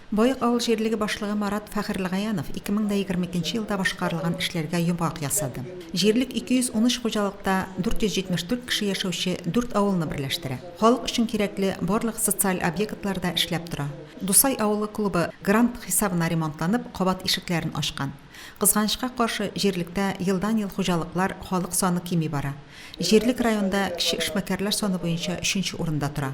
Боек авыл җирлеге башлыгы Марат Фәхерлегаянов 2022 нче елда башкарылган эшләргә йомгак ясады. Җирлек 213 хуҗалыкта 474 кеше яшәүче дүрт авылны берләштерә. Халык өчен кирәкле барлык социаль объектлар да эшләп тора. Дусай авылы клубы грант хисабына ремонтланып, кабат ишекләрен ачкан. Кызганычка каршы, җирлектә елдан-ел хуҗалыклар, халык саны кими бара. Җирлек районда кече эшмәкәрләр саны буенча өченче урында тора.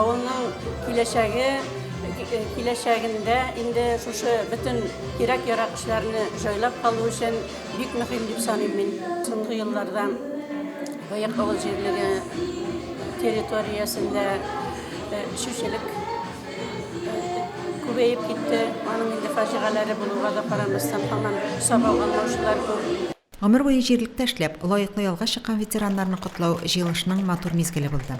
Авылның киләчәге, киләчәгендә инде шушы бөтен кирәк-ярак эшләрне җайлап калу өчен бик мөһим дип саныйм мин. Соңгы елларда Боек авыл җирлеге территориясендә эчүчелек күбәеп китте. Аның инде фаҗигаләре булуга да карамастан, һаман сак алган яучылар күп. Гомер буе җирлектә эшләп, лаеклы ялга чыккан ветераннарны котлау җыелышның матур мизгеле булды.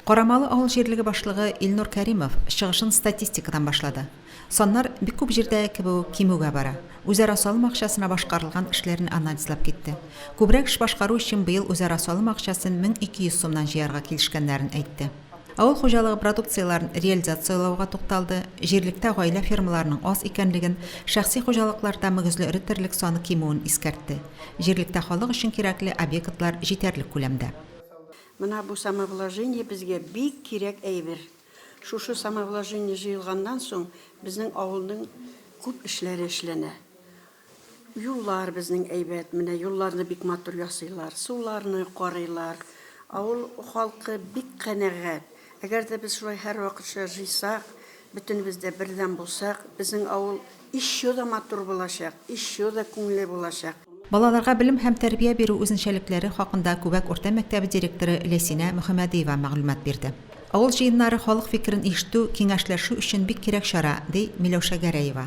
Карамалы авыл җирлеге башлыгы Илнур Кәримов чыгышын статистикадан башлады. Саннар бик күп җирдә кебү кимүгә бара. Үзара салым акчасына башкарылган эшләрне анализлап китте. Күбрәк эш башкару өчен быел үзара салым акчасын 1200 сумнан җыярга килешкәннәрен әйтте. Авыл хуҗалыгы продукцияләрен реализацияләүгә тукталды, җирлектә гаилә фермаларының аз икәнлеген, шәхси хуҗалыкларда мөгезле эре терлек саны кимүен искәртте. Җирлектә халык өчен кирәкле объектлар җитәрлек күләмдә. Менә бу самовложение безгә бик кирәк әйбер. Шушы самовложение җыелганнан соң безнең авылның күп эшләре эшләнә. Юллар безнең әйбәт, менә юлларны бик матур ясыйлар, суларны карыйлар. Авыл халкы бик канәгать. Әгәр дә без шулай һәрвакытча жыйсак, бөтенебез дә бердәм булсак, безнең авыл ещё да матур булачак, ещё да күңелле булачак. Балаларга белем һәм тәрбия бирү үзенчәлекләре хакында Күбәк урта мәктәбе директоры Ләйсинә Мөхәмәдиева мәгълүмат бирде. Авыл җыеннары халык фикерен ишетү, киңәшләшү өчен бик кирәк чара, ди Миләүшә Гәрәева.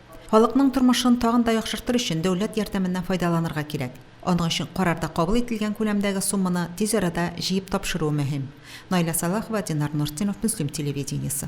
Халыкның тормышын тагын да яхшыртыр өчен дәүләт ярдәменнән файдаланырга кирәк. Аның өчен карарда кабул ителгән күләмдәге сумманы тиз арада җыеп тапшыруы мөһим. Наилә Сәлахова, Динар Нуртдинов, Мөслим телевидениесе.